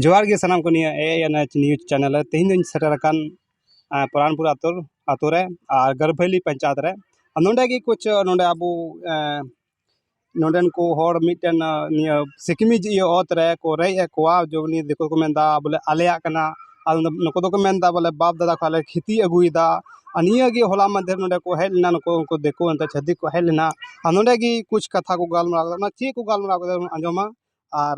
ᱡᱚᱦᱟᱨ ᱜᱮ ᱥᱟᱱᱟᱢ ᱠᱚ ᱱᱤᱭᱟᱹ A N H news channel ᱨᱮ ᱛᱮᱦᱮᱧ ᱫᱚᱧ ᱥᱮᱴᱮᱨ ᱟᱠᱟᱱ ᱯᱚᱨᱟᱱᱯᱩᱨ ᱟᱹᱛᱩ ᱟᱹᱛᱩ ᱨᱮ ᱟᱨ ᱜᱟᱹᱨᱵᱷᱟᱹᱞᱤ ᱯᱚᱧᱪᱟᱭᱮᱛ ᱨᱮ ᱟᱨ ᱱᱚᱰᱮ ᱜᱮ ᱠᱩᱪ ᱱᱚᱰᱮ ᱟᱵᱚ ᱱᱚᱰᱮᱱ ᱠᱚ ᱦᱚᱲ ᱢᱤᱫᱴᱮᱱ ᱱᱤᱭᱟᱹ ᱥᱤᱠᱲᱤᱡ ᱤᱭᱟᱹ ᱚᱛ ᱨᱮ ᱠᱚ ᱨᱮᱡ ᱮᱫ ᱠᱚᱣᱟ ᱡᱮ ᱩᱱᱤ ᱫᱤᱠᱩ ᱛᱮᱠᱚ ᱢᱮᱱᱫᱟ ᱵᱚᱞᱮ ᱟᱞᱮᱭᱟᱜ ᱠᱟᱱᱟ ᱟᱨ ᱱᱩᱠᱩ ᱫᱚᱠᱚ ᱢᱮᱱᱫᱟ ᱵᱚᱞᱮ ᱵᱟᱯ ᱫᱟᱫᱟ ᱠᱷᱚᱱ ᱞᱮ ᱠᱷᱚᱛᱤ ᱟᱹᱜᱩᱭᱮᱫᱟ ᱟᱨ ᱱᱤᱭᱟᱹ ᱜᱮ ᱦᱚᱞᱟ ᱢᱟᱦᱫᱮᱨ ᱱᱚᱰᱮ ᱠᱚ ᱦᱮᱡ ᱞᱮᱱᱟ ᱱᱩᱠᱩ ᱩᱱᱠᱩ ᱫᱤᱠᱩ ᱮᱱᱛᱮ ᱪᱷᱟᱹᱛᱤᱠ ᱠᱚ ᱦᱮᱡ ᱞᱮᱱᱟ ᱟᱨ ᱱᱚᱰᱮ ᱜᱮ ᱠᱩᱪ ᱠᱟᱛᱷᱟ ᱠᱚ ᱜᱟᱞᱢᱟᱨᱟᱣ ᱠᱮᱫᱟ ᱚᱱᱟ ᱪᱮᱫ ᱠᱚ ᱜᱟᱞᱢᱟᱨᱟᱣ ᱠᱮᱫᱟ ᱚᱱᱟ ᱟᱸᱡᱚᱢᱟ ᱟᱨ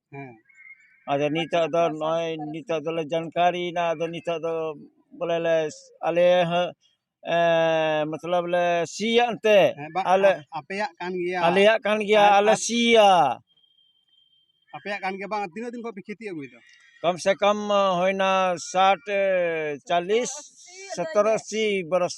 ᱦᱮᱸ ᱟᱫᱚ ᱱᱤᱛᱳᱜ ᱫᱚ ᱱᱚᱜᱼᱚᱭ ᱱᱤᱛᱳᱜ ᱫᱚᱞᱮ ᱡᱟᱱᱠᱟᱨᱤᱭᱮᱱᱟ ᱟᱫᱚ ᱱᱤᱛᱳᱜ ᱫᱚ ᱵᱚᱞᱮ ᱞᱮ ᱟᱞᱮ ᱦᱚᱸ ᱢᱚᱛᱞᱚᱵ ᱞᱮ ᱥᱤᱭᱟ ᱮᱱᱛᱮ ᱟᱞᱮ ᱟᱯᱮᱭᱟᱜ ᱠᱟᱱ ᱜᱮᱭᱟ ᱟᱞᱮᱭᱟᱜ ᱠᱟᱱ ᱜᱮᱭᱟ ᱟᱞᱮ ᱥᱤᱭᱟ ᱟᱯᱮᱭᱟᱜ ᱠᱟᱱ ᱜᱮᱭᱟ ᱵᱟᱝ ᱛᱤᱱᱟᱹᱜ ᱫᱤᱱ ᱠᱷᱚᱱ ᱯᱮ ᱠᱷᱮᱛᱤ ᱟᱹᱜᱩᱭᱮᱫᱟ ᱠᱚᱢ ᱥᱮ ᱠᱚᱢ ᱦᱩᱭᱱᱟ ᱥᱟᱴ ᱪᱟᱞᱞᱤᱥ ᱥᱚᱛᱛᱚᱨ ᱟᱥᱤ ᱵᱚᱨᱚᱥ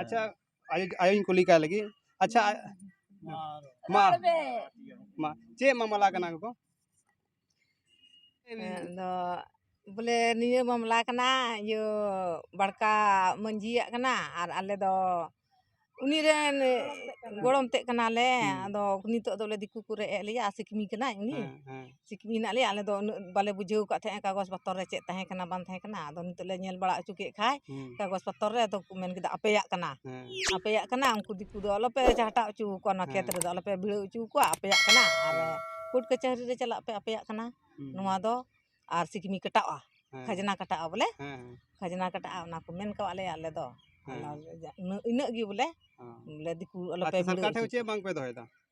ᱟᱪᱪᱷᱟ ᱟᱭᱳ ᱟᱭᱳᱧ ᱠᱩᱞᱤ ᱠᱟᱭ ᱞᱟᱹᱜᱤᱫ ᱟᱪᱪᱷᱟ ᱢᱟ ᱢᱟ ᱪᱮᱫ ᱢᱟᱢᱞᱟ ᱠᱟᱱᱟ ᱜᱚᱜᱚ ᱟᱫᱚ ᱵᱚᱞᱮ ᱱᱤᱭᱟᱹ ᱢᱟᱢᱞᱟ ᱠᱟᱱᱟ ᱤᱭᱟᱹ ᱵᱟᱲᱠᱟ ᱢᱟᱺᱡᱷᱤᱭᱟᱜ ᱠᱟᱱᱟ ᱟᱨ ᱟᱞᱮ ᱫᱚ ᱩᱱᱤ ᱨᱮᱱ ᱜᱚᱲᱚᱢ ᱛᱮᱫ ᱠᱟᱱᱟᱞᱮ ᱟᱫᱚ ᱱᱤᱛᱚᱜ ᱫᱚ ᱵᱚᱞᱮ ᱫᱤᱠᱩ ᱠᱚ ᱨᱮᱡ ᱮᱫ ᱞᱮᱭᱟ ᱥᱤᱠᱢᱤ ᱠᱟᱱᱟᱭ ᱩᱱᱤ ᱥᱤᱠᱷᱤ ᱢᱮᱱᱟᱜ ᱞᱮᱭᱟ ᱟᱞᱮ ᱫᱚ ᱩᱱᱟᱹᱜ ᱵᱟᱞᱮ ᱵᱩᱡᱷᱟᱹᱣ ᱟᱠᱟᱫ ᱛᱟᱦᱮᱸᱜᱼᱟ ᱠᱟᱜᱚᱡᱽ ᱯᱚᱛᱚᱨ ᱨᱮ ᱪᱮᱫ ᱛᱟᱦᱮᱸ ᱠᱟᱱᱟ ᱵᱟᱝ ᱛᱟᱦᱮᱸ ᱠᱟᱱᱟ ᱟᱫᱚ ᱱᱤᱛᱚᱜ ᱞᱮ ᱧᱮᱞ ᱵᱟᱲᱟ ᱦᱚᱪᱚ ᱠᱮᱫ ᱠᱷᱟᱱ ᱠᱟᱜᱚᱡᱽ ᱯᱚᱛᱚᱨ ᱨᱮ ᱟᱫᱚ ᱠᱚ ᱢᱮᱱ ᱠᱮᱫᱟ ᱟᱯᱮᱭᱟᱜ ᱠᱟᱱᱟ ᱟᱯᱮᱭᱟᱜ ᱠᱟᱱᱟ ᱩᱱᱠᱩ ᱫᱤᱠᱩ ᱫᱚ ᱟᱞᱚ ᱯᱮ ᱪᱟᱦᱴᱟᱣ ᱦᱚᱪᱚ ᱟᱠᱚᱣᱟ ᱱᱚᱣᱟ ᱠᱷᱮᱛ ᱨᱮᱫᱚ ᱟᱞᱚ ᱯᱮ ᱵᱷᱤᱲᱟᱹᱣ ᱦᱚᱪᱚ ᱟᱠᱚᱣᱟ ᱟᱯᱮᱭᱟᱜ ᱠᱟᱱᱟ ᱟᱨ ᱠᱳᱨᱴ ᱠᱟᱹᱪᱷᱟᱹᱨᱤ ᱨᱮ ᱪᱟᱞᱟᱜ ᱯᱮ ᱟᱯᱮᱭᱟᱜ ᱠᱟᱱᱟ ᱱᱚᱣᱟ ᱫᱚ ᱟᱨ ᱥᱤᱠᱷᱤᱢ ᱠᱟᱴᱟᱜᱼᱟ ᱠᱷᱟᱡᱽᱱᱟ ᱠᱟᱴᱟᱜᱼᱟ ᱵᱚᱞᱮ ᱠᱷᱟᱡᱽᱱᱟ ᱠᱟᱴᱟᱜᱼᱟ ᱚᱱᱟ ᱠᱚ ᱢᱮᱱ ᱟᱠᱟᱫ ᱞᱮᱭᱟ ᱟᱞᱮ ᱫᱚ ᱤᱱᱟᱹᱜ ᱜᱮ ᱵᱚᱞᱮ ᱫᱤᱠᱩ ᱟᱞᱚ ᱯᱮ ᱵᱷᱤᱲᱟᱹᱣ ᱦᱚᱪᱚ ᱟᱠᱚᱣᱟ ᱥᱚᱨᱠᱟᱨ ᱴᱷᱮᱱ ᱪᱮᱫ ᱵᱟᱝ ᱯᱮ ᱫᱚᱦᱚᱭᱮᱫᱟ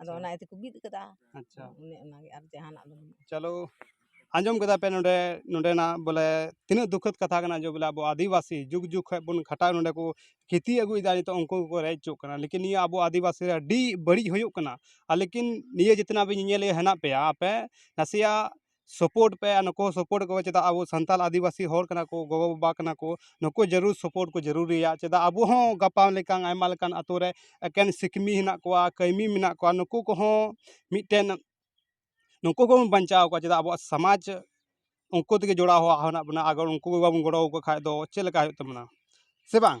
ᱟᱫᱚ ᱚᱱᱟ ᱤᱭᱟᱹ ᱛᱮᱠᱚ ᱵᱤᱫ ᱠᱟᱫᱟ ᱟᱪᱪᱷᱟ ᱚᱱᱮ ᱚᱱᱟᱜᱮ ᱟᱨ ᱡᱟᱦᱟᱱᱟᱜ ᱫᱚ ᱵᱟᱹᱱᱩᱜᱼᱟ ᱪᱚᱞᱚ ᱟᱸᱡᱚᱢ ᱠᱮᱫᱟ ᱯᱮ ᱱᱚᱰᱮ ᱱᱚᱰᱮᱱᱟᱜ ᱵᱚᱞᱮ ᱛᱤᱱᱟᱹᱜ ᱫᱩᱠᱷᱚᱫ ᱠᱟᱛᱷᱟ ᱠᱟᱱᱟ ᱡᱮ ᱵᱚᱞᱮ ᱟᱵᱚ ᱟᱹᱫᱤᱵᱟᱹᱥᱤ ᱡᱩᱜᱽ ᱡᱩᱜᱽ ᱠᱷᱚᱡ ᱵᱚᱱ ᱠᱷᱟᱴᱟᱜ ᱱᱚᱰᱮ ᱠᱚ ᱠᱷᱮᱛᱤ ᱟᱹᱜᱩᱭᱮᱫᱟ ᱱᱤᱛᱚᱜ ᱩᱱᱠᱩ ᱜᱮᱠᱚ ᱨᱮᱡ ᱦᱚᱪᱚᱜ ᱠᱟᱱᱟ ᱞᱮᱠᱤᱱ ᱱᱤᱭᱟᱹ ᱟᱵᱚ ᱟᱹᱫᱤᱵᱟᱹᱥᱤ ᱨᱮ ᱟᱹᱰᱤ ᱵᱟᱹᱲᱤᱡ ᱦᱩᱭᱩᱜ ᱠᱟᱱᱟ ᱟᱨ ᱞᱮᱠᱤᱱ ᱱᱤᱭᱟᱹ ᱡᱮᱛᱱᱟᱜ ᱵᱤᱱ ᱧᱮᱧᱮᱞᱮᱫ ᱦᱮᱱᱟᱜ ᱯᱮᱭᱟ ᱟᱯᱮ ᱱᱟᱥᱮᱭᱟᱜ ᱥᱟᱯᱳᱨᱴ ᱯᱮ ᱟᱨ ᱱᱩᱠᱩ ᱦᱚᱸ ᱥᱟᱯᱳᱨᱴ ᱠᱚᱯᱮ ᱪᱮᱫᱟᱜ ᱟᱵᱚ ᱥᱟᱱᱛᱟᱲ ᱟᱹᱫᱤᱵᱟᱹᱥᱤ ᱦᱚᱲ ᱠᱟᱱᱟ ᱠᱚ ᱜᱚᱜᱚᱼᱵᱟᱵᱟ ᱠᱟᱱᱟ ᱠᱚ ᱱᱩᱠᱩ ᱡᱟᱹᱨᱩᱲ ᱥᱟᱯᱳᱨᱴ ᱠᱚ ᱡᱟᱹᱨᱩᱲᱤᱭᱟ ᱪᱮᱫᱟᱜ ᱟᱵᱚ ᱦᱚᱸ ᱜᱟᱯᱟ ᱞᱮᱠᱟᱱ ᱟᱭᱢᱟ ᱞᱮᱠᱟᱱ ᱟᱛᱳ ᱨᱮ ᱮᱠᱮᱱ ᱥᱤᱠᱷᱱᱟᱹᱛ ᱦᱮᱱᱟᱜ ᱠᱚᱣᱟ ᱠᱟᱹᱢᱤ ᱢᱮᱱᱟᱜ ᱠᱚᱣᱟ ᱱᱩᱠᱩ ᱠᱚᱦᱚᱸ ᱢᱤᱫᱴᱮᱱ ᱱᱩᱠᱩ ᱠᱚᱦᱚᱸ ᱵᱚᱱ ᱵᱟᱧᱪᱟᱣ ᱠᱚᱣᱟ ᱪᱮᱫᱟᱜ ᱟᱵᱚᱣᱟᱜ ᱥᱚᱢᱟᱡᱽ ᱩᱱᱠᱩ ᱛᱮᱜᱮ ᱡᱚᱲᱟᱣ ᱦᱮᱱᱟᱜ ᱵᱚᱱᱟ ᱟᱜᱟᱨ ᱩᱱᱠᱩ ᱜᱮ ᱵᱟᱵᱚᱱ ᱜᱚᱲᱚᱣᱟᱠᱚ ᱠᱷᱟᱱ ᱫᱚ ᱪᱮᱫ ᱞᱮᱠᱟ ᱦᱩᱭᱩᱜ ᱛᱟᱵᱚᱱᱟ ᱥᱮ ᱵᱟᱝ